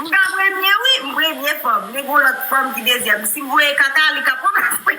M ka premye wi m premye fanm men gon lòt fanm ki dezyèm si m voye kaka li ka pran plas mwen.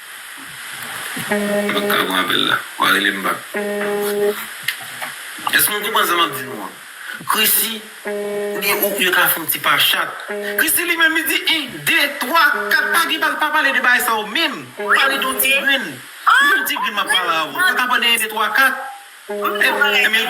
M pap ka pran apèl la. Wa rele m bak. Èske nou konprann sa m ap di nou an? Krisi, oubyen ou, yo ka fè yon ti pa chat. Krisi li menm li di 1, 2, 3, 4, pa gen, pa pale de bagay sa yo menm. M pale de yon ti grenn. Se yon ti grenn m ap pale avè w. Ou pa ka pran de 1, 2, 3, 4. Ebyen,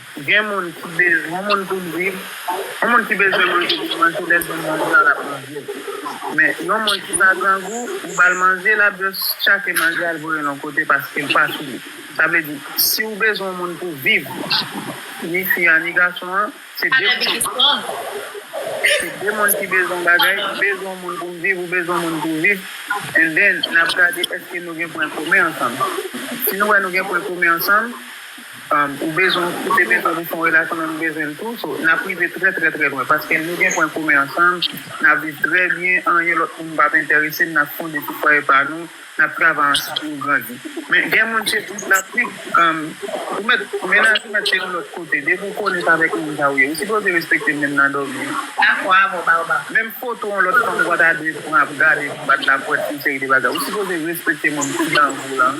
Gen moun ki bezwen moun pou l viv, yon moun ki bezwen manje pou l manje lè l jwenn manje a l ap manje l. Men, yon moun ki pa grangou, ou ba l manje l ap jis tchake manje a l voye l yon kote paske l pa fini. Sa vle di, si ou bezwen yon moun pou viv, ni fi a ni gason an, se de moun ki bezwen yon bagay, m bezwen yon moun pou m viv, ou bezwen yon moun pou w viv, and then n ap gade èske nou gen pwen komen ansanm. Si nou wè nou gen pwen komen ansanm, Ou bezwen yon koute men kòm ou se yon relasyon men m bezwen l tou so nap rive trè trè trè lwen paske nou gen pwen komen ansanm nap viv trè byen anyen lòt moun pap enterese n nap fonde ti fwaye pa nou nap travay ansanm nou grandi men gen moun se tout lap viv ou mèt mennaj ou mèt se yon lòt kote depi ou konnen avèk moun sa ou ye ou sipoze respekte m menm nan dòmi menm foto yon lòt fanm ou pa ta dwe pran ap gade anba laprès yon seri de bagay ou sipoze respekte moun ki nan ou lan.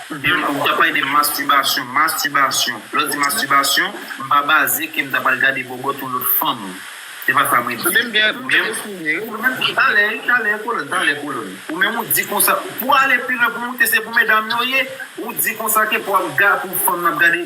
Demen ou ta pale de mastibasyon, mastibasyon, lè w di mastibasyon, m pa baze ke m ta pral gade bòbòt yon lòt fanm. Se pa sa mwen di. Menm gen, menm, talè, talè kolòn, talè kolòn. Ou menm ou di konsa, pou ale pi lwen, pou moute se pou medam yo ye, ou di konsa ke pou ap ga, pou fanm nan ap gade.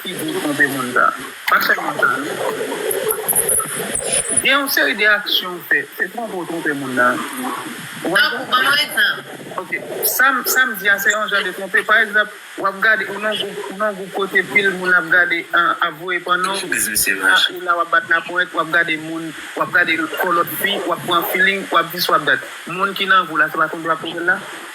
Figu tronpe moun sa. Pa fè moun sa non. Gen yon seri de aksyon ou fè. Se tronpe ou tronpe moun nan. Tankou ban mwen egzanp. Ok. Sa m di a se yon jan de tronpe. Pa egzanp, w ap gade, ou nan yon gwoup kote pil moun ap gade, ap voye panno, ou la w ap bat lapwent, w ap gade moun, w ap gade kò lòt fi, w ap pran feeling, w ap dis, w ap dat. Moun ki nan gou la se pa tronpe w ap tronpe l la?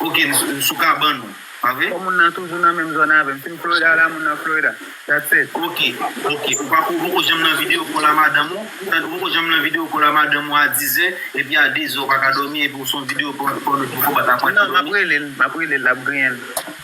Ok m sou kabann ou pa vre. Fò moun nan toujou nan menm zòn avèm sim Florida la moun nan Florida that's it. Ok ok ou pa ou poko janm nan video kòl a madanm ou tan ou poko janm nan video kòl a madanm ou a 10 zè epi a 2 zè ou paka dòmi epi ou son video kòl ou poko bat aprann pou dòmi. Non map relel map relel lap griyenl.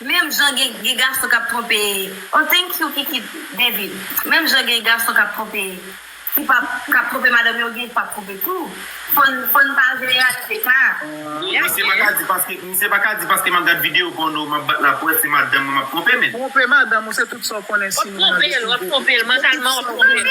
Menm jan gen gen gason kap tronpe oh thank you kiki baby menm jan gen gason kap tronpe ki pap kap tronpe madanm yo gen ki pap tronpe tou fòn fòn pa vle reyalite sa yeah yeah. Misye paka di paske misye paka di paske map gad video pòno map bat la prèv se madanm mwen map tronpe menn. Tronpe madanm ou se tout sa ou konnen si nou nan de si w de. Wap tronpe l wap tronpe l mantalman wap tronpe l.